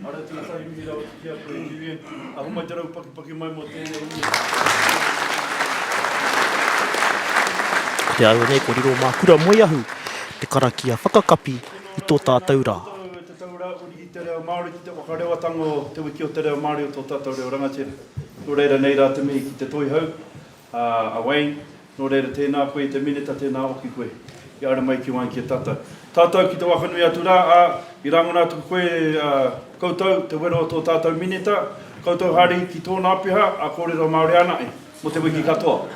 Ara tuatahi mihi rawa ki a koe Julian. A homai te rau pakipaki mai mo tenei Ko te aue nei ko riro ma Kura Moeahu te karakia whakakapi i to tatou ra. Koutou e te tau ra uri i te reo Maori ki te whakarewatanga o te wiki o te reo Maori o to tatou reo rangatira. No reira nei ra te mihi ki te Toihau. Ā, a Wayne, nō reira, tēnā koe i te Minita, tēnā hoki koe i aroha mai ki Wānkia tātou. Tātou ki te waka nui atu rā, ā, i rangona atu koe, ā, koutou, te wero o tō tātou Minita, koutou hari ki tōna peha, ā, kōrero Māori anaʻi, mō te wiki katoa.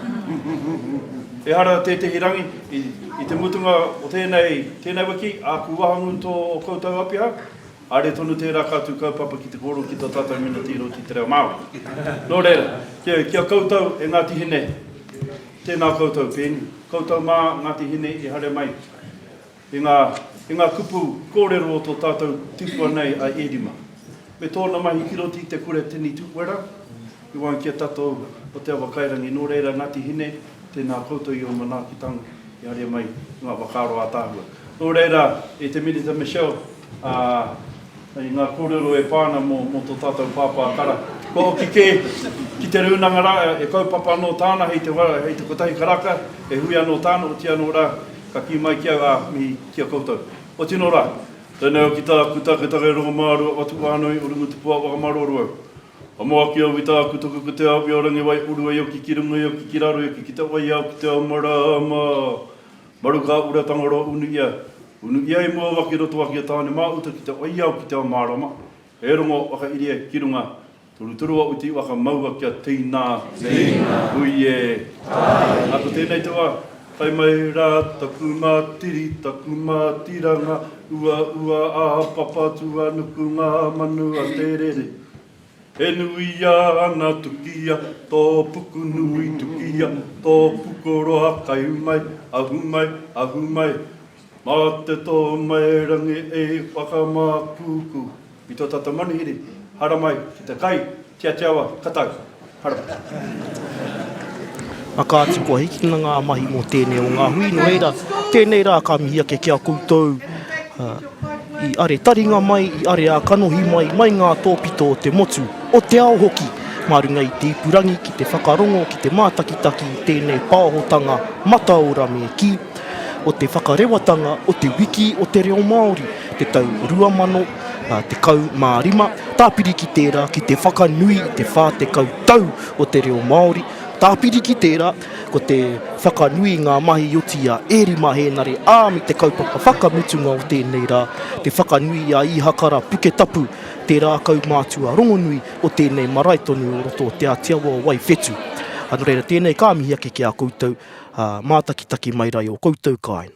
Ehara tētehi rangi, i, i te mutunga o tēnei, tēnei wiki, āku wahangu tō ō koutou apeha, Haere tonu tērā kātou kaupapa ki te kōrero ki tō tātou mena tīro ki te reo Māori. Nō reira, ki a koutou e Ngāti Hine, tēnā koutou pēnei, koutou mā Ngāti Hine i haere mai i ngā, i ngā kupu kōrero o tō tātou tipua nei a Ērima, me tōna mahi ki roto i te kura tini tūwera, i waenga ki a tātou o Te Awa Kairangi. Nō reira, Ngāti Hine, tēnā koutou i ō manaakitanga i haere mai i ngā whakaaro ātaahua. Nō reira, e te Minita Michelle, Ā, i ngā kōrero e pā ana mō tō tātou pāpā kara, kua hoki kē ki te rūnanga rā, e kaupapa anō tāna hei te wā, hei te kotahi karaka, e hui anō tāna, otiia anō rā, ka kī mai ki au, ā, mihi ki a koutou. Kua tino rā. Tēnei au ki tāku taketake e Rongomaarua, Watuwānui, Urungutupoa, Whakamaruoru au. Ka moaki au i tāku toka ko Te Awi o Rangiwai, urua i oki ki runga, i oki ki raro, i oki ki te wai āu ki te ao marama. Maru ka ura Tangaroa unu ia, unu ia i mua waki roto waki a Tāne mā uta ki te waiao ki te ao mārama, he rongo whakairie ki runga, turuturua uti waka maua kia teina, hui e, ā ko tēnei te wā, tae mai rā taku mā tiri, taku mā tiranga, uaua ā papa tuanuku ngā manu a te rere. He nui ana tukia to puku nui tukia to pukoroa kai mai ahu mai ahu mai ma te to mai rangi e whakamakuku i to tatou manuhiri haramai ki te kai ki a te awa katau haramai. Aka atu kua hikina nga mahi mo tenei o nga hui no reira tenei ra ka mihi ake ki a koutou. I are taringa mai, i are ā kanohi mai, mai ngā tōpito o te motu, o te ao hoki, mā runga i te ipurangi ki te whakarongo, ki te mātakitaki i tēnei pāhotanga mataora me kī, o te whakarewatanga o Te Wiki o te Reo Māori, te tau 2015, tāpiri ki tērā ki te whakanui i te 40 tau o te reo Māori, tāpiri ki tērā, Ko te whakanui i ngā mahi i oti i a Erima Hēnare ā me te kaupapa whakamutunga o tēnei rā, te whakanui i a Īhakara Puketapu, tērā kaumātua rongonui o tēnei marae tonu o roto o Te Ātiawa o Waiwhetū. Nō reira, tēnei ka mihi ake ki a koutou, ā, mātakitaki mai rā i ō koutou kāinga.